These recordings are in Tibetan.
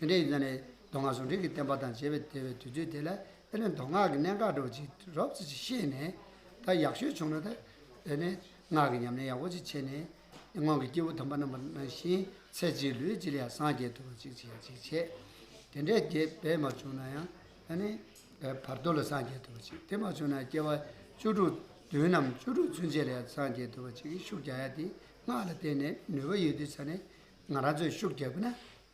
ཡོན་ཏན་ཡིན་ན་ནི་མདོ་སྔགས་ཟུང་འབྲེལ་གྱི་བསྟན་པ་དང་བཅས་པའི་དེ་བས་དུས་ཚོད་དེ་ལ་ཨེ་ལས་མདོ་སྔགས་ཀྱི་གནད་འགག་སྒྲོག་ཅིག་རོབ་ཙེ་ཅིག་ཤེས་ནས། ད་ཡག་ཤོས་བྱུང་ན་ད་ནི་སྔགས་ཀྱི་ཉམས་ལེན་ཡག་པོ་ཅིག་བྱས་ནས། སྔོན་གྱི་སྐྱེས་བུ་དམ་པ་རྣམས་པ་བཞིན་ཚེ་གཅིག་ལུས་གཅིག་ལ་ཡང་སངས་རྒྱས་ཐུབ་པ་ཅིག་བྱེད་ཅིག་བྱས། དེ་འདྲའི་རྒྱས་པས་མ་བྱུང་ན་ཡང་ད་ནི་བར་དོ་ལ་སངས་རྒྱས་ཐུབ་པ་ཅིག་དེ་མ་བྱུང་ན་སྐྱེ་བ་བཅུ་དྲུག་བདུན་ནམ་བཅུ་དྲུག་ཚུན་ཆད་ལ་ཡང་སངས་རྒྱས་ཐུབ་པ་ཅིག་གིས་ཤུགས་རྒྱག་ཡ་དེ་སྔགས་ལ་བརྟེན་ནས་ནུས་པ་ཡོད་དུས་ཚར་ནས་ང་རང་ཚོས་ཤུགས་རྒྱག་དགོས་ན་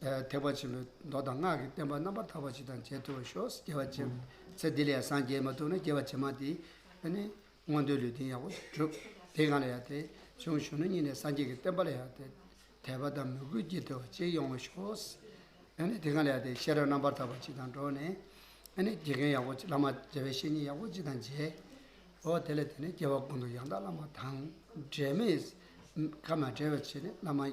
ཐེག་པ་ཆེན་པོའི་མདོ་དང་སྔགས་ཀྱི་བསྟན་པ་རྣམ་པར་དག་པ་ཅི་དང་རྗེས་ཐོབ་ཤོག། རྒྱལ་བ་ཆེན་པོའི་ཚེ་འདི་ལས་སངས་རྒྱས་མ་ཐུག་ན་རྒྱལ་བ་ཇེ་མང་དེ་ནས་མངོན་འདོད་ལུས་རྟེན་ཡག་པོ་གྲུབ། དེ་གང་ལ་ཡང་དེ་བྱུང་གཞོན་ནུ་ཉིད་ནས་སངས་རྒྱས་ཀྱི་བསྟན་པ་ལ་ཡང་དེ་དད་པ་དང་མོས་གུས་རྒྱས་ཐོབ་བ་ཅིག་ཡོང་བ་ཤོག། དེ་གང་ལ་ཡང་དེ་ཤེས་རབ་རྣམ་པར་དག་པ་ཅི་དང་འགྲོགས་ནས། དགེ་རྒན་ཡག་པོ་བླ་མ་མཇལ་བའི་བཤེས་གཉེན་ཡག་པོ་ཅི་དང་མཇལ། དེ་ལས་དེ་ནས་རྒྱལ་བ་ཀུན་ཏུ་ཡང་དག་བླ་མ་དང་འབྲལ་མེད། ཁ་མ་བྲལ་བར་བྱས་ནས་བླ་མ།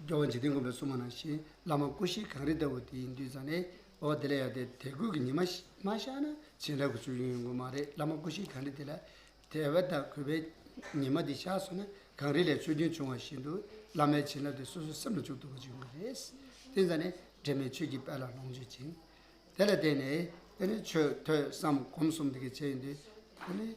རྒྱལ་བ་འཇིག་རྟེན་མགོན་པོའི་སྲུང་མ་ནང་བཞིན་བླ་མ་སྐུ་བཞི་གངས་རི་ལྟ་བུ་དེའི་མདུན་ས་ནས་འོ་དེ་ལས་ཡག་དེ་དད་གུས་ཀྱི་ཉི་མ་མ་ཤར་ན་བྱེ་བྲག་གི་ཆོས་རྒྱུན་ཡོང་གི་མ་རེད་བླ་མ་སྐུ་བཞི་གངས་རི་དེ་ལ་དད་པ་དང་གུས་པས་ཉི་མ་དེ་ཤར་སོང་ན་གངས་རི་ལས་ཆོས་རྒྱུན་བྱུང་བ་བཞིན་དུ་བླ་མའི་བྱིན་རླབས་དེ་སོ་སོའི་སེམས་ལ་འཇུག་ཐུབ་པ་ཅིག་ཡོང་གི་རེད་བསྟན་ས་ནི་འབྲལ་མེད་ཆོས་ཀྱི་དཔལ་ལ་ལོངས་སྤྱོད་ཅིང། དེ་ལ་བརྟེན་ནས་དེ་ནི་ཆོས་ཐོས་བསམ་སྒོམ་གསུམ་དེ་གའི་ཆེད་ཡིན་དུས་དེ་ནི།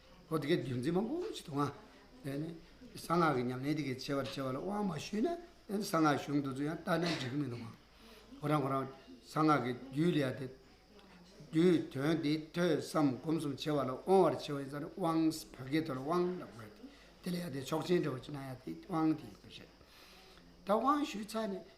ཨོ་དེ་གའི་རྒྱུ་མཚན་མང་པོ་ཞིག་འདུག་ང། གནས་གསང་སྔགས་ཀྱི་ཉམས་ལེན་དེ་གའི་བྱེད་པར་བྱེད་པ་ལ་དབང་མ་ཞུས་ན་གནས་གསང་སྔགས་གཞུང་འདི་ཚོ་ཡང་བལྟ་ན་འགྲིག་གི་མི་འདུག་ང། ཁོ་རང་ཁོ་རང་གསང་སྔགས་ཀྱི་རྒྱུད་ལས་དེ་རྒྱུད་དོན་དེ་ཐོས་བསམ་སྒོམ་གསུམ་བྱེད་པ་ལ་དབང་བར་བྱེད་པ་ཡིན་ས་རེད་དབང་བོད་སྐད་དུ་ལ་དབང་ལ་དགོས་ཏེ་དེ་ལ་ཡང་དེ་ཆོག་མཆན་འབྲི་བར་བྱེད་ན་ཡང་དེ་དབང་དེ་ཡིན་པར་བཤད། ད་དབང་ཞུས་ཚར་ནས་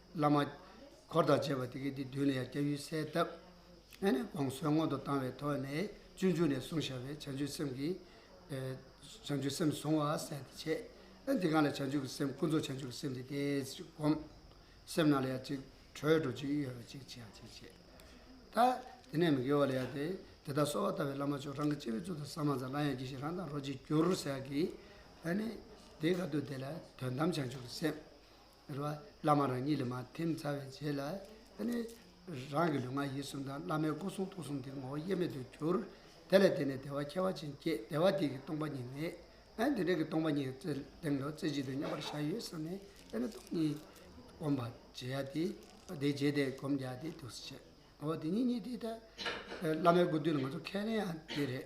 བླ་མ། འཁོར་དང་བཅས་པ་དེ་སྐད་དུ་བསྡུས་ནས་ཡང་སྐྱབས་ཡུལ་གསལ་བཏབ། ཨེ་ནས་དགོངས་གསོལ་སྔོན་དུ་བཏང་བའི་ཐོག་ནས་སྤྱོད་འཇུག་ནས་གསུངས་བྱ་བའི་བྱང་ཆུབ་སེམས་ཀྱི། བྱང་ཆུབ་སེམས་བཟུང་བ་གསལ་དུ་བྱས། ཨེ་འདི་གང་ལ་བྱང་ཆུབ་ཀྱི་སེམས་ཀུན་རྫོབ་བྱང་ཆུབ་ཀྱི་སེམས་འདི་སྟེ་ཅེས་བསྒོམ། སེམས་རྣམས་ལ་ཡང་ཅིག་གྲོལ་འགྲོ་ཅིག་གཡོ་བ་ཅིག་ཅེས་ཡང་ཅིག་བྱས། ད་དེ་ནས་མི་དགེ་བ་ལ་ཡང་དེ་དེ་དག་གསོལ་བ་བཏབ་པས་བླ་མ་མཆོག་རང་གི་སྤྱི་བོའི་གཙུག་ཏུ་ས་མ་ཛ་ལ་ཡང་གྱིས་ཤིག་རང་དང་རོ་གཅིག་གྱུར་ཟེར་གྱིས། ཨེ་ནས་དེ་ག་དུས་དེ་ལ་དོན་དམ་བྱང་ཆུབ་ཀྱི་སེམས། རེ་བ་བླ་མ་རང་ཉིད་ལས་མ་ཐེམ་རྩ་བའི་རྗེས་ལ་ནི། རང་གི་ལུས་ངག་ཡིད་གསུམ་དང་བླ་མའི་སྐུ་གསུང་ཐུགས་གསུམ་དེ་ངོ་བོ་དབྱེར་མེད་དུ་གྱུར། དེ་ལས་བརྟེན་ནས་བདེ་བ་ཁྱད་པར་ཅན་སྐྱེས་བདེ་བ་དེ་གི་སྟོང་པ་ཉིད་མེད། དེ་འདྲ་གི་སྟོང་པ་ཉིད་རྩེ་གདིང་དུ་རྩེ་གཅིག་ཏུ་མཉམ་པར་བཞག་ཡོད་བསམ་ནས་དེ་ནི་སྟོང་ཉིད་སྒོམ་པར་བྱེད་ཡ་སྟེ། དེ་རྗེས་དེ་སྒོམ་རྒྱག་སྟེ་ཐུགས་སུ་ཆུད། ངོ་བོ་དེ་ཉིད་ཉིད་དེ་ལྟར་བླ་མའི་སྐུ་དོན་ལ་ང་ཚོ་ཁས་ལེན་ཡང་དེ་རེད།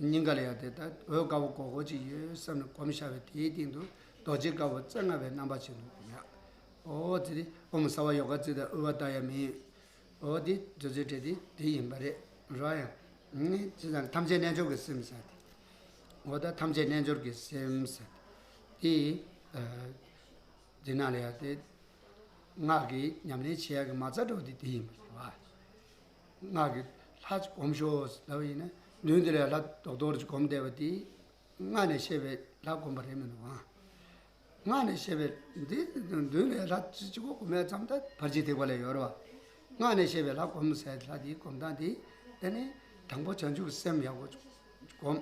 སྙིང་ག་ལ་ཡང་དེ་ལྟར་འོད་དཀར་པོ་གོ་གོ་ཅིག་ཡོད་བསམ་ནས་གོམས་ཤར་བས་དེའི་སྟེང་དུ་རྡོ་རྗེ་དཀར་པོ་རྩེ་ལྔ་པའི་རྣམ་པ་ཅིག་འདུག་ཡ། ཨོ་དེ་དེ་ཨོ་མི་ཟ་བར་ཡོ་ག་རྩིས་དང་དབུལ་བ་ལྟར་ཡང་མི་ཡོད། ཨོ་དེ་དེ་ཚོའི་གྲས་དེ་དེ་ཡིན་པ་རེད། ར་ཡ། ངས་ཅི་བསམ་ཐམས་ཅད་རྣལ་འབྱོར་གྱི་སེམས་ཟེར་ཏེ། ཨོ་ད་ཐམས་ཅད་རྣལ་འབྱོར་གྱི་སེམས་ཟེར་ཏེ། དེ་ན་ལ་ཡང་དེ། སྔགས་ཀྱི་ཉམས་ལེན་བྱེད་ཡ་གི་མ་རྩ་གྲོགས་དེ་དེ་ཡིན་པ་རེད་བ། སྔགས་ཀྱི་ལྷ་ཅིག་བསྒོམ་ཤོག་ཟེར་བ་ཡིན་ན་མདུན་དེ་ལས་ལྷ་རྡོག་རྡོག་རེ་ཅིག་བསྒོམ་བསྡད་པ་དེས་སྔགས་ནས་བཤད་པའི་ལྷ་བསྒོམ་པ་རེད་མི་འདུག་གམ། སྔགས་ནས་བཤད་པའི་འདི་མདུན་ལས་ལྷ་ཅིག་ཅིག་པོ་བསྒོམ་ཡ་ཙམ་དང་བར་གྱི་ཐེག་པ་ལས་ཡོལ་བ། སྔགས་ནས་བཤད་པའི་ལྷ་བསྒོམ་ཟེར་ལྷ་དེའི་བསྒོམ་སྟངས་དེ་དེ་ནི་དང་པོ་བྱང་ཆུབ་སེམས་ཡག་པོ་བསྒོམ།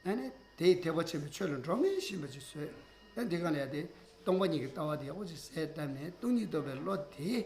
ཨ་ནི་དེས་ཐེག་པ་ཆེན་པོའི་ཆོས་ལ་འགྲོ་མི་ཤེས་པ་ཅིག་བཟོས། ཨ་འདི་གང་ལས་དེ་སྟོང་པ་ཉིད་ཀྱི་ལྟ་བ་དེ་ཡག་པོ་ཅིག་ཟད་བཏབ་ནས་སྟོང་ཉིད་རྟོགས་པའི་བློ་དེས་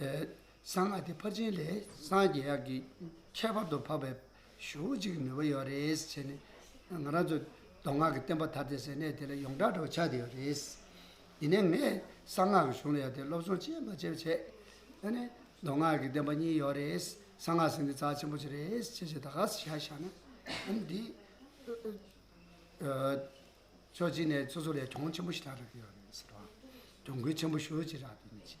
གསང་སྔགས་དེ་ཕར་ཕྱིན་ལས་སངས་རྒྱས་དབྱར་གྱི་ཁྱད་པར་དུ་འཕགས་པའི་ཞུ་བ་ཅིག་ནུས་པ་ཡོད་རེད་བྱས་ནས་ང་རང་ཚོ་མདོ་སྔགས་ཀྱི་བསྟན་པ་དར་ཏེ་ཟེར་གནས་དེ་ལ་ཡོངས་གྲགས་འགྲོ་བ་ཆགས་བསྡད་ཡོད་རེད། ཡིན་ནའི་ངས་གསང་སྔགས་ཀྱི་གཞུང་ལ་ཡར་དེ་སློབ་སྦྱོང་བྱས་མ་བྱས་པ་བྱས་ནས་མདོ་སྔགས་ཀྱི་བསྟན་པ་གཉིས་ཡོད་རེད་གསང་སྔགས་ཟེར་འདི་རྩ་ཆེན་པོ་ཅིག་རེད་བྱས་བྱས་ད་ག་ཟེ་བྱས་བྱས་ན་འདི་ཕྱོགས་གཅིག་ནས་སོ་སོ་ལས་གྲོང་ཆེན་པོ་ཞིག་རག་གི་ཡོད་རེད་ཟེར་བ། གྲོང་ཁུལ་ཆེན་པོ་ཞུ་བ་ཅིག་རག་གི་ཡོད་རེད།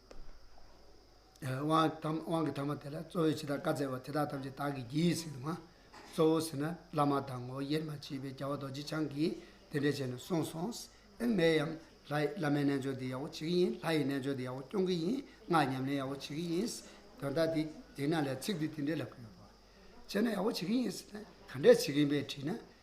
དབང་གི་དངས་མ་དེ་ལ་གཙོ་བོས་ཇི་ལྟར་བཀའ་སྩལ་བ་དེ་དག་ཐམས་ཅད་བདག་གིས་བགྱིའི་ཟེར་ན། གཙོ་བོ་ཟེར་ན་བླ་མ་དང་ངོ་དབྱེར་མ་མཆིས་པའི་རྒྱལ་བ་རྡོ་རྗེ་འཆང་གིས་དེ་འདྲས་བྱས་ནས་གསུངས་སོང། ཨེ་མའི་ཡང། ལྷའི་བླ་མའི་རྣལ་འབྱོར་འདི་ཡག་པོ་བྱེད་ཀྱི་ཡིན་ལྷ་ཡི་རྣལ་འབྱོར་འདི་ཡག་པོ་སྐྱོང་གི་ཡིན་སྔགས་ཉམས་ལེན་ཡག་པོ་བྱེད་ཀྱི་ཡིན། དོན་དག་འདི་དེས་ན་ལས་ཚིག་འདི་དེ་འདྲས་ལབ་ཀྱི་ཡོད་དོ། བྱས་ན་ཡག་པོ་བྱེད་ཀྱི་ཡིན་ཟེར་ན་ག་འདྲས་བྱེད་ཀྱི་ཡིན་པས་དྲིས་ན།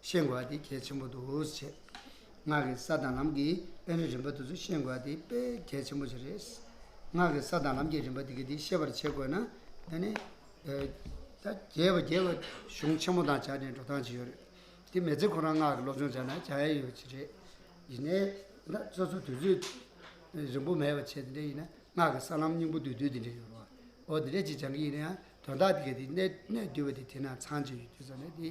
ཤེས་དགོས་པ་དེ་གལ་ཆེན་པོ་འདུག་བྱས། ངག་གི་ས་དང་ལམ་གྱི་དཔེ་རིས་རིམ་པ་དེ་ཚོ་ཤེས་དགོས་པ་དེ་དཔེ་གལ་ཆེན་པོ་ཞིག་རེད། ངག་གི་ས་དང་ལམ་གྱི་རིམ་པ་དེ་ག་དེ་ཤེས་པར་བྱེད་དགོས་ན། དེ་ནི། ད་རྒྱལ་བ་རྒྱལ་བའི་གཞུང་ཆེན་མོ་དང་སྦྱར་ནས་འགྲོ་སྟངས་ཅི་ཡོད་རེད། དེ་མེད་ཚེ་ཁོ་རང་ངག་གི་སློབ་སྦྱོང་སྦྱར་ན་སྦྱར་ཡས་ཡོད་ཅི་རེད། ཡིན་ནའི། ད་སོ་སོ་དུས་ཚོད་རིང་པོ་མེད་པར་བྱས་དེ་འདྲ་ཡིན་ན་ངག་གི་ས་ལམ་སྙིང་པོ་བསྡུས་དུས་དེ་འདྲ་ཡོད་རུང། འོ་དེ་འདྲ་ཅིག་སྦྱང་གི་ཡིན་ན་ཡང་དོན་དག་དེ་ག་དེ་གནད་བསྡུས་པ་དེ་དེ་ན་ཚང་ཅི་ཡོད་རྒྱུ་ཙམ་རེད་དེ།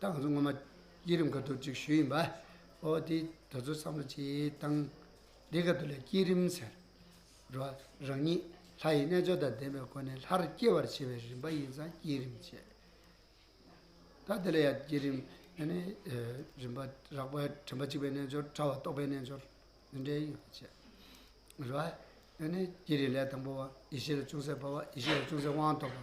ཏང་ཙུའུ་སྔོན་མ་བསྐྱེད་རིམ་སྐབས་ཐོག་ཅིག་ཞུས་ཡིན་པ། ཨོ་དེ་ད་ཚོད་བསམ་བློ་བྱས་ཏང་དེ་སྐབས་ཐོག་ལས་བསྐྱེད་རིམ་ཟེར། རོ། རང་ཉིད་ལྷ་ཡི་རྣལ་འབྱོར་དང་ལྡན་པའི་སྒོ་ནས་ལྷར་སྐྱེ་བར་བྱེད་པའི་རིམ་པ་ཡིན་ཙང་བསྐྱེད་རིམ་བྱས། ད་དེ་ལ་ཡང་བསྐྱེད་རིམ་ནི་ནི། རིམ་པ་རགས་པ་དྲན་པ་གཅིག་པའི་རྣལ་འབྱོར་ཕྲ་བ་རྟོགས་པའི་རྣལ་འབྱོར་འདི་འདྲའི་ཡོད་པར་བྱས། རོ། ནི་ནི་བསྐྱེད་རིམ་ལས་དང་པོ་བ་ཡེ་ཤེས་ལ་ཅུང་ཟད་འབར་བ་ཡེ་ཤེས་ལ་ཅུང་ཟད་དབང་ཐོབ་པ།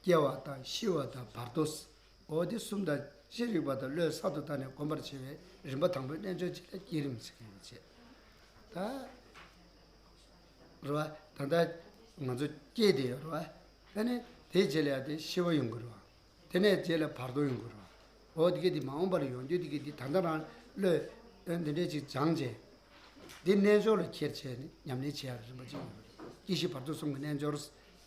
སྐྱེ་བ་དང་ཤི་བ་དང་བར་དོ། འོ་དེ་གསུམ་དང་ཅི་རིགས་པ་དང་བློས་གསར་དུ་བཏགས་ནས་སྒོམ་པར་བྱེད་པའི་རིམ་པ་དང་པོའི་རྣལ་འབྱོར་གྱི་ལས་བསྐྱེད་རིམ་གྱི་ལས་བྱེད། ད་རེད་བ། ད་ལྟ་ང་ཚོ་སྐྱེས་བདེ་ཡོད་རེད་བ། ད་ནི་དེའི་རྗེས་ལ་ཡང་དེ་ཤི་བ་ཡོང་གི་རེད་བ། དེ་ནས་རྗེས་ལ་བར་དོ་ཡོང་གི་རེད་བ། འོ་དེ་གས་དེ་མ་འོངས་པ་ལ་ཡོང་རྒྱུ་དེ་གས་དེ་ད་ལྟ་རང་བློས་འདི་འདྲས་ཅིག་སྦྱངས་བྱས། འདི་རྣལ་འབྱོར་ལ་ཁྱེར་བྱས་ནས་ཉམས་ལེན་བྱས་ཡག་རིམ་པ་གཅིག་ཡོང་གི་རེད། སྐྱེ་ཤི་བར་དོ་གསུམ་གྱི་རྣལ་འབྱོར།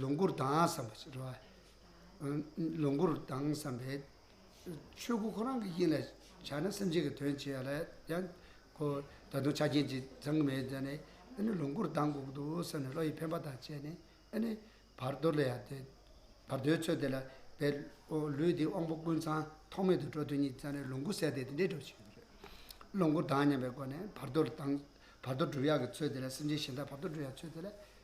ལོངས་སྐུར་ལྡང་བསམ་པ་ཞེས་བྲི་བ། ལོངས་སྐུར་ལྡང་བསམ་པས། ཆོས་སྐུ་ཁོ་རང་གི་དབྱིངས་ལ་བྱ་ན་སེམས་ཅན་གྱི་དོན་བྱེད་ཡ་ལ་ཡང་གོ། ད་དུང་ཆ་རྐྱེན་གྱིས་འཛིན་གྱི་མེད་ནས་ཨེ་ནི་ལོངས་སྐུར་ལྡང་དགོས་འདུག་བསམ་ནས་བློ་ཡི་འཕེན་པ་དང་བཅས་ནས་ཨེ་ནི། བར་དོ་ལ་ཡང་དེ། བར་དོའི་ཚུལ་དེ་ལ་དེ། ལུས་འདིའི་དབང་པོ་ཀུན་ཚང་ཐོག་མེད་དུ་འགྲོ་དོན་གཉིས་བརྩམས་ནས་ལོངས་སྐུ་ཟད་དེ་དེ་འདྲའི་འགྲོ་བྱེད་ཡིན་པས། ལོངས་སྐུར་ལྡང་སྙམ་པའི་སྒོ་ནས་བར་དོ་ལ་ལྡང། བར་དོ་བསྒྲུབ་ཡག་གི་ཚུལ་དེ་ལ་སེམས་ཅན་གཞན་དག་བར་དོ་བསྒྲུབ་ཡག་ཚུལ་དེ་ལ་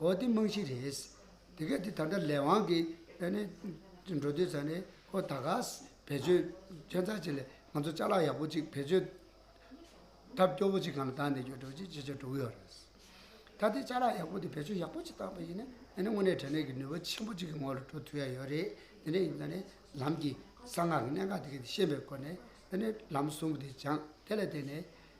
འོ་དེ་རྨང་གཞི་རེད། དེ་ག་དེ་ད་ལྟ་ལས་དབང་གིས་ཨ་ནི་འགྲོ་དུས་ཚར་ནས་ཁོ་ད་ག་བེད་སྤྱོད་ཁྱོད་ཚར་བྱེད་ལས་ང་ཚོ་ལྕགས་ལག་ཡག་པོ་གཅིག་བེད་སྤྱོད་ཐབས་སྐྱོ་བོ་གཅིག་གང་ལ་བཏང་ནས་ཡོད་འགྲོ་ཅི་བྱེད་ཅེས་དྲུག་ཡོད་རེད། ད་ལྟའི་ལྕགས་ལག་ཡག་པོ་དེ་བེད་སྤྱོད་ཡག་པོ་གཅིག་བཏང་བ་ཡིན་ན་ཨ་ནི་དངོས་གནས་དྲན་ནས་ཀྱི་ནུས་པ་ཆེན་པོ་གཅིག་གི་ངོ་ལ་འགྲོ་ཐུབ་ཡ་ཡོད་རེད་དེ་ནས་ཡིན་ད་ནི་ལམ་གྱི་གསང་སྔགས་གནད་འགག་དེ་ག་དེ་ཤེས་པའི་སྒོ་ནས་ཨ་ནི་ལམ་གསུམ་པོ་དེ་སྦྱངས་དེ་ལ་བརྟེན་ནས་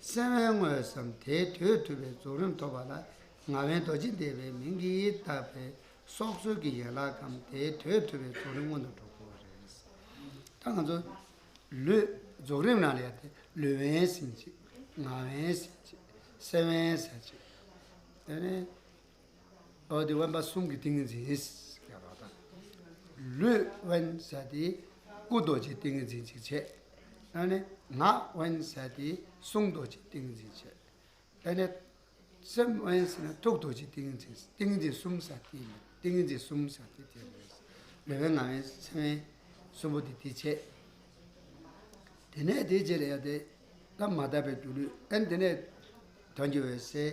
གསལ་བའི་དངོས་སམ་དེའི་དོད་ཐུབ་པའི་རྫོགས་རིམ་ཐོབ་པ་ལ་ང་བན་རྡོ་རྗེ་འདེབས་པའི་མིང་གིས་བཏགས་པས་སྲོག་རྩོལ་གྱི་ཡན་ལག་གམ་དེའི་དོད་ཐུབ་པའི་རྫོགས་རིམ་སྔོན་དུ་འགྲོ་དགོས་རེད། ད་ང་ཚོ། ལུས། རྫོགས་རིམ་རང་ལ་ཡོད་དེ། ལུས་བན་ཟིན་ཅིག། ངག་བན་ཟིན་ཅིག། གསལ་བན་ཟེར་ཅིག། དེ་ནས། ཨོ་དེ་དབེན་པ་གསུམ་གྱི་ཏིང་ངེ་འཛིན་ཡིན། ལུས་དབེན་ས་དེ་སྐུ་རྡོ་རྗེའི་ཏིང་ངེ་འཛིན་གཅིག་བྱེད། དེ་ནས་ངག་དབེན་ས་དེ་གསུང་རྡོ་རྗེའི་ཏིང་ངེ་འཛིན་བྱེད། དེ་ནས་སེམས་དབེན་ས་ནི་ཐུགས་རྡོ་རྗེའི་ཏིང་ངེ་འཛིན་ཏིང་ངེ་འཛིན་གསུམ་ས་དེ་ཡིན་ཏིང་ངེ་འཛིན་གསུམ་ས་དེ་དེ་ལས། ལུས་དབེན་ངག་དབེན་སེམས་དབེན་གསུམ་པོ་དེ་དེ་བྱེད། དེ་ནས་དེ་རྗེས་ལ་ཡང་དེ་ལ་མ་དག་པའི་རྒྱུ་ལུས་དབེན་དེ་ནས་དོན་གྱི་འོད་གསལ་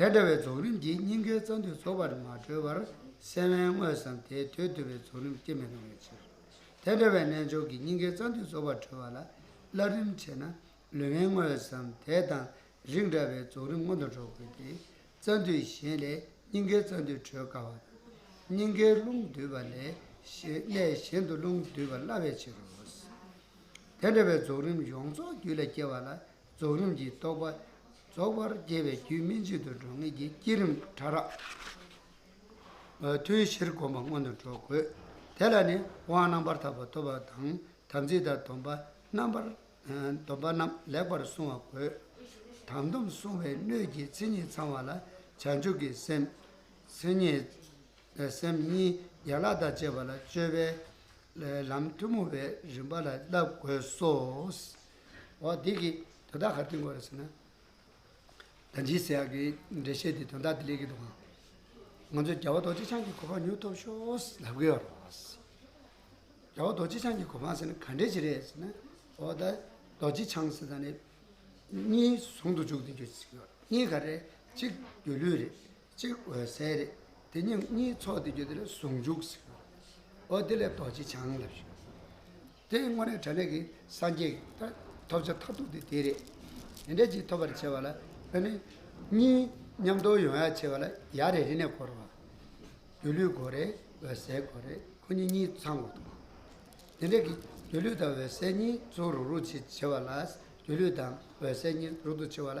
དེ་འདྲ་བའི་རྫོགས་རིམ་གྱིས་སྙིང་གའི་རྩ་མདུད་རྫོགས་པར་མ་གྲོལ་བར་སེམས་དབེན་དངོས་སམ་དེའི་དོད་བསྡུ་བའི་རྫོགས་རིམ་སྐྱེ་མི་རུང་བའི་ཕྱིར། དེ་འདྲ་བའི་རྣལ་འབྱོར་གྱིས་སྙིང་གའི་རྩ་མདུད་རྫོགས་པར་གྲོལ་བ་ལ་བསླབ་རིམ་ཆེ་ན་ལུས་དབེན་དངོས་སམ་དེ་དང་རིགས་འདྲ་བའི་རྫོགས་རིམ་སྔོན་དུ་འགྲོ་དགོས་ཏེ། རྩ་མདུད་གཞན་ལས་སྙིང་གའི་རྩ་མདུད་གྲོལ་དཀའ་བ་དང། སྙིང་གའི་རླུང་སྡུད་པ་ལས་གནས་གཞན་དུ་རླུང་སྡུད་པར་སླ་བའི་ཕྱིར་རོ། དེ་འདྲ་བའི་རྫོགས་རིམ་ཡོངས་རྫོགས་རྒྱུད་ལ་སྐྱེ་བ་ལ་རྫོགས་རིམ་གྱིས་རྟོགས་པ་རྫོགས་པར་རྒྱས་པའི་རྒྱུད་སྨིན་བྱེད་དུ་འགྲོ་ངེས་ཀྱི་བསྐྱེད་རིམ་ཕྲ་རགས་ཐུན་བཞིར་བསྒོམ་པ་སྔོན་དུ་འགྲོ་དགོས། དེ་ལ་ནི་དབང་རྣམ་པར་དག་པ་ཐོབ་པ་དང་དམ་ཚིག་དང་སྡོམ་པ་རྣམས་པར་སྡོམ་པ་རྣམས་ལེགས་པར་བསྲུང་བ་དགོས། དམ་སྡོམ་བསྲུང་བའི་སྣོད་ཀྱི་མཚན་ཉིད་ཚང་བ་ལ་བྱང་ཆུབ་ཀྱི་སེམས། སེམས་ཉིད་སེམས་གཉིས་ཡན་ལག་དང་བཅས་པ་ལ་སྤྱོད་པའི་ལམ་ཐུན་མོང་བའི་རིམ་པ་ལ་བསླབ་དགོས་སོ། འོ་འདི་གི་དོན་དག་ག་དུས་འགོ་རེད་ཟེར་ན། ད་འཇིགས་ཟེར་ཡག་གི་འགྲེལ་བཤད་དེ་དོན་དག་དེ་ལས་གི་འདུག་གམ། ང་ཚོས་རྒྱལ་བ་རྡོ་རྗེ་འཆང་གི་གོ་འཕང་མྱུར་ཐོབ་ཤོག་ལབ་གི་ཡོད་རེད། རྒྱལ་བ་རྡོ་རྗེ་འཆང་གི་གོ་འཕང་ཟེར་ན་ག་འདྲས་ཅིག་རེད་ཟེར་ན། འོ་ད་རྡོ་རྗེ་འཆང་ཟེར་ད་ནི་གཉིས་ཟུང་དུ་འཇུག་དུ་འཇུག་ཟིན་ཡོད་རེད། གཉིས་ག་རེད་གཅིག་སྒྱུ་ལུས་རེད། གཅིག་འོད་གསལ་རེད། དེ་ཉིད་གཉིས་ཚོགས་དེ་རྒྱུ་དེ་ལས་ཟུང་འཇུག་ཟེར། འོ་དེ་ལས་རྡོ་རྗེ་འཆང་ལབ་ཞུ། དེ་དངོས་གནས་དྲན་རེག་གི་སངས་རྒྱས་ཀྱི་ཐ། ཐོབ་བྱ་མཐར་ཐུག་དེ་དེ་རེད། དེ་འདྲའི་གཅིག་ཐོབ་པར་བྱེད་པ་ལ་བོད་ནི། གཉིས་མཉམ་དོ་ཡོང་ཡག་བྱེད་པ་ལ་ཡ་རེ་རེ་ནས་གོ་རེ་བ། སྒྱུ་ལུས་གོ་རེ་འོད་གསལ་གོ་རེ་ཁོ་གཉིས་གཉིས་ཚང་གོ་ཐུབ། དེ་འདྲའི་གི་སྒྱུ་ལུས་དང་འོད་གསལ་གཉིས་ཚུགས་རུག་རུག་བྱེད་བྱེད་པ་ལ། སྒྱུ་ལུས་དང་འོད་གསལ་གཉིས་རུག་རྡུག་བྱེད་པ་ལ་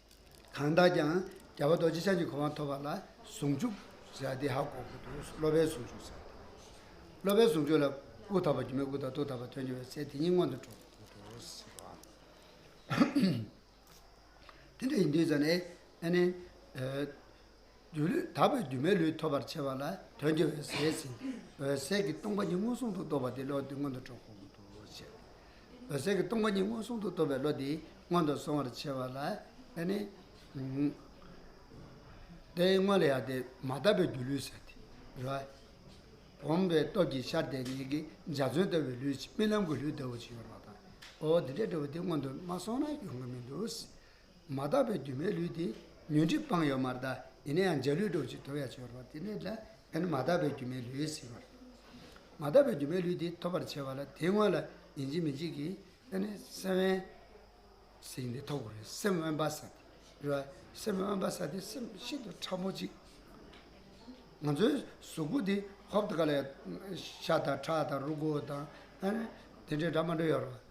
གང་དག་ཀྱང་རྒྱལ་བ་རྡོ་རྗེ་འཆང་གི་གོ་འཕང་ཐོབ་པ་ལ་ཟུང་འཇུག་ཟེར་དེ་ཧ་གོ་དགོས་འདུག་སློབ་པའི་ཟུང་འཇུག་ཟེར། སློབ་པའི་ཟུང་འཇུག་ལ་དབུགས་དག་པ་སྒྱུ་མའི་སྐུ་དང་ཐུགས་དག་པ་དོན་གྱི་འོད་གསལ་དེ་ཉིད་མངོན་དུ་འགྲོ་དགོས་འདུག། དེ་འདྲ་ཡིན་དུས་ཙམ་ནས། སྒྱུ་ལུས་དག་པའི་སྒྱུ་མའི་ལུས་ཐོབ་པར་བྱེད་པ་ལ་དོན་གྱི་འོད་གསལ་ཟིན། འོད་གསལ་གྱི་སྟོང་པ་ཉིད་མངོན་སུམ་དུ་རྟོགས་པ་དེ་བློ་འདི་སྔོན་དུ་འགྲོ་བར་མངོན་དུ་བྱེད། འོད་གསལ་གྱི་སྟོང་པ་ཉིད་མངོན་སུམ་དུ་རྟོགས་པའི་བློ་འདི་སྔོན་དུ་སོང་བར་བྱེད་པ་ལ་ལན་ནི། དེ་སྔོན་ལ་ཡང་དེ་མ་དག་པའི་སྒྱུ་ལུས་ཟད་དེ་རུ། བུམ་པའི་སྟོབས་ཀྱིས་ཤར་དེ་ཉིད་ཀྱི་འཇའ་ཚོན་ལྟ་བུའི་ལུས་ཀྱི་རྨི་ལམ་གྱི་ལུས་ལྟ་བུ་ཅིག་ཡོད་པ་དང། འོ་དེ་འདྲའི་འབྲས་བུ་དེ་སྔོན་དུ་མ་སོང་ན་ཡོང་གི་མི་འདུག། མ་དག་པའི་སྒྱུ་མའི་ལུས་དེ་ཉོན་སྒྲིབ་སྤངས་ཡོད་མར་གདའ། ཡིན་ན་ཡང་འཇའ་ལུས་སྒྲོག་ཅིང་དོར་ཡ་བྱེད་རོགས་དེ་ནས་དྲན། ཡང་ན་མ་དག་པའི་སྒྱུ་མའི་ལུས་ཟེར་བར། མ་དག་པའི་སྒྱུ་མའི་ལུས་དེ་ཐོབ་པར་བྱེད་པ་ལ་དེའི་སྔོན་ལ་ཡིན་གཅིག་མིན་གཅིག་གིས་ཡང་ན་སེམས་དབེན། ཟིན་ཏེ་ཐོབ་དགོས་རེད་སེམས་དབེན་པ་ས་དེ་རེད་བ། སེམས་དབེན་པ་ས་དེ་སེམས་ཤིན་ཏུ་ཕྲ་མོ་གཅིག། ང་ཚོའི་གཟུགས་པོ་འདི་ཧོབ་ཏུ་ག་ལ་ཡོད། ཤ་དང་ཁྲག་དང་རུ་སྒོ་དང། ཡང་ན་དེ་འདྲའི་སྒྲ་མ་འགྲོ་ཡོད་རེད་བ།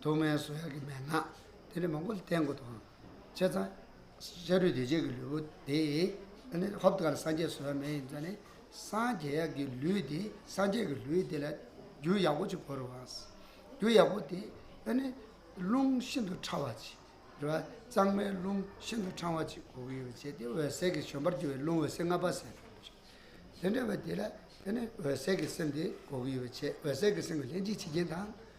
ཐོག་མའི་བཟོ་གཡར་གྱི་མན་ངག་དེ་ལས་མང་པོ་བསྟན་དགོས་དོན། བྱས་ཙང། ཤ་རུས་བདེ་བྱེད་ཀྱི་ལུས་པོ་དེ། ཧོབ་དཀར་སངས་རྒྱས་བཟོ་ཡ་མེད་ཡིན་ཙང་ནི། སངས་རྒྱས་ཀྱི་ལུས་དེ་སངས་རྒྱས་ཀྱི་ལུས་དེ་ལ། རྒྱུ་ཡག་པོ་ཅིག་བོར་བ། རྒྱུ་ཡག་པོ་དེ། རླུང་ཤིན་ཏུ་ཕྲ་བ་ཅིག། རེད་བ། གཙང་མའི་རླུང་ཤིན་ཏུ་ཕྲང་བ་ཅིག་གོ་གི་ཡོད་བྱས་ཏེ་འོད་གསལ་གྱི་བཞོན་པར་གྱུར་བའི་རླུང་འོད་ཟེར་ལྔ་པ་ཟེར། དེ་འདྲ་བའི་དེ་ལ། འོད་གསལ་གྱི་སེམས་དེ་གོ་གི་ཡོད་བྱས་འོད་གསལ་གྱི་སེམས་ཀྱི་ལྷན་ཅིག་བྱེད་རྐྱེན་དང།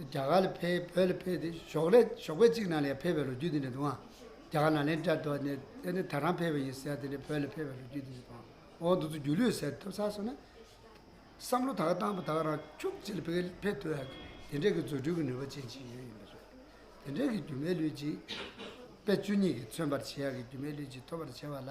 རྒྱ་གར་ལ་ཕེབས་བོད་ལ་ཕེབས་ཏེ་ཞོགས་ལས་ཞོགས་པའི་གཅིག་ནང་ལས་ཕེབས་པའི་ལོ་རྒྱུས་དེ་འདྲ་འདུག་ཨང། རྒྱ་གར་ནང་ལས་འདྲ་དོ་ནས་དེ་ནས་ད་རང་ཕེབས་པ་ཡིན་ཟེར་དེ་ནས་བོད་ལ་ཕེབས་པའི་ལོ་རྒྱུས་དེ་འདྲ་དང། འོག་འདུག་ཚུལ་སྒྱུ་ལུས་ཟེར་ཐུབ་ས་སོང་ན། བསམ་བློ་དག་བཏང་པ་དག་རང་ཁྱུག་ཅིག་ལ་ཕེབས་ཕེབས་ཐུབ་ཡག་གི་དེ་འདྲས་ཀྱི་རྫུ་འཕྲུལ་གྱི་ནུས་པ་ཅན་ཞིག་ཡོད་ཡིན་པ་རེད། དེ་འདྲས་ཀྱི་སྒྱུ་མའི་ལུས་ཅིག། དཔེ་བཅུ་གཉིས་ཀྱིས་མཚོན་པར་བྱེད་ཡག་གི་སྒྱུ་མའི་ལུས་ཅིག་ཐོབ་པར་བྱས་པ་ལ།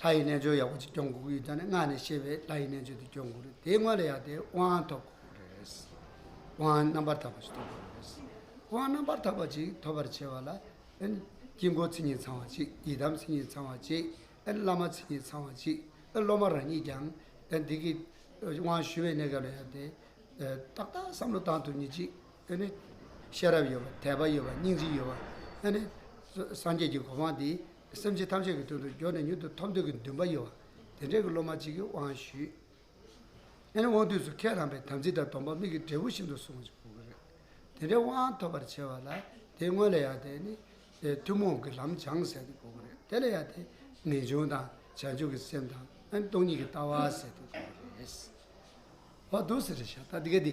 ལྷ་ཡི་རྣལ་འབྱོར་ཡག་པོ་ཅིག་སྐྱོང་དགོས་ཀྱི་ཡོད་ད་ནི་སྔགས་ནས་ཤེས་པའི་ལྷ་ཡི་རྣལ་འབྱོར་དེ་སྐྱོང་དགོས་རེད་དེའི་སྔོན་ལ་ཡང་དེའི་དབང་ཐོབ་དགོས་པ་རེད། དབང་རྣམ་པར་དག་པ་ཞིག་ཐོབ་དགོས་པ་རེད། དབང་རྣམ་པར་དག་པ་ཅིག་ཐོབ་པར་བྱེད་པ་ལ། དཀྱིལ་འཁོར་མཚན་ཉིད་ཚང་བ་ཅིག་ཡི་དམ་མཚན་ཉིད་ཚང་བ་ཅིག་བླ་མ་མཚན་ཉིད་ཚང་བ་ཅིག་སློབ་མ་རང་ཉིད་ཀྱང་འདི་གི་དབང་ཞུ་བའི་གནས་སྐབས་ལ་ཡང་དེ་ཏག་ཏག་བསམ་བློ་བཏང་ཐུབ་ཉིན་ཅིག་ཤེས་རབ་ཡོད་པ་དད་པ་ཡོད་པ་སྙིང་རྗེ་ཡོད་པ་སངས་རྒྱས་ཀྱི་གོ་འཕང་འདི་སེམས་ཅན་ཐམས་ཅད་ཀྱི་དོན་དུ་སྦྱོར་ནས་མྱུར་དུ་ཐོབ་འདོད་ཀྱི་འདུན་པ་ཡོད་པ་དེ་འདྲའི་སློབ་མ་གཅིག་གི་དབང་ཞུས། ཨེ་ནི་དབང་དུས་སུ་ཁས་བླངས་པའི་དམ་ཚིག་དང་སྡོམ་པ་མིག་གི་འབྲས་བུ་བཞིན་དུ་བསྲུང་བ་ཞིག་རེད། དེ་འདྲའི་དབང་ཐོབ་པར་བྱེད་པ་ལ་དེའི་སྔོན་ལ་ཡང་དེ་ནི་ཐུན་མོང་གི་ལམ་བྱང་ཟེར་དུ་དགོས་པ་རེད། དེ་ལ་ཡང་དེ་ངེས་འབྱུང་དང་བྱང་ཆུབ་ཀྱི་སེམས་དང་ཨེ་ནི་སྟོང་ཉིད་ཀྱི་ལྟ་བ་ཟེར་དུ་དགོས་པ་རེད། ཧོ་ཏུ་སེ་རེ་ཤ་ད་ཏི་ག་ཏི་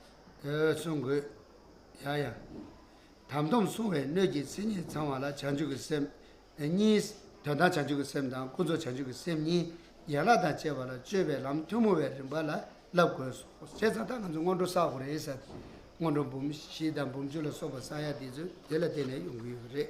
བསྲུང་དགོས། ཡང་ཡང་དམ་སྡོམ་བསྲུང་བའི་སྣོད་ཀྱི་མཚན་ཉིད་ཚང་བ་ལ་བྱང་ཆུབ་ཀྱི་སེམས་གཉིས། དོན་དམ་བྱང་ཆུབ་ཀྱི་སེམས་དང་ཀུན་རྫོབ་བྱང་ཆུབ་ཀྱི་སེམས་གཉིས་ཡན་ལག་དང་བཅས་པ་ལ་སྤྱོད་པའི་ལམ་ཐུན་མོང་བའི་རིམ་པ་ལ་བསླབ་དགོས་སོ། བྱས་ཙང་ད་ང་ཚོ་སྔོན་འགྲོ་བསགས་དགོས་རེད་ཟེར། སྔོན་འགྲོ་འབུམ་བཞི་དང་འབུམ་བཅུ་ལ་སོགས་པ་བསགས་ཡ་དེ་ཚོ་དེ་ལ་བརྟེན་ནས་ཡོང་གི་ཡོད་རེད།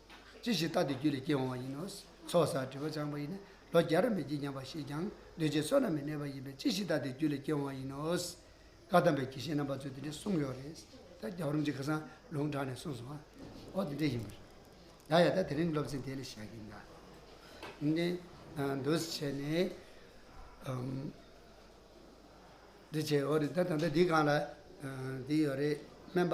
ཅི་ཞིག་བརྟགས་ཏེ་རྒྱུད་ལས་སྐྱེས་འོང་བ་ཡིན་ནོ། ཚོགས་བསགས་དྲི་བ་སྦྱངས་པ་ཡིས་ནི་ལོ་བརྒྱར་མི་བགྱིད་སྙམ་པ་ཞིག་ཀྱང་འདུས་བྱས་བསོད་ནམས་མི་གནས་པ་ཡིན་པས་ཅི་ཞིག་བརྟགས་ཏེ་རྒྱུད་ལས་སྐྱེས་འོང་བ་ཡིན་ནོ། བཀའ་གདམས་པའི་གྱི་ཤེས་རྣམ་པ་ཚོས་དེ་འདྲའི་གསུངས་ཡོད་རེད། ད་རྒྱ་བོད་རིམ་གྱི་ཁ་སང་ལུང་དྲངས་ནས་གསུངས་སོང་ཨ། ཨོ་དེ་འདྲས་ཡིན་པ་རེད། ཡ་ཡ་ད་དེ་རིང་སློབ་ཚན་དེ་ལས་བཞག་གི་འདྲ། འདི་འདུས་བྱས་ནི། འདུས་བྱས་འོ་རེད་ད་ད་ལྟ་འདི་གང་ལ་འདི་ཡོད་རེད་སྨན་པ།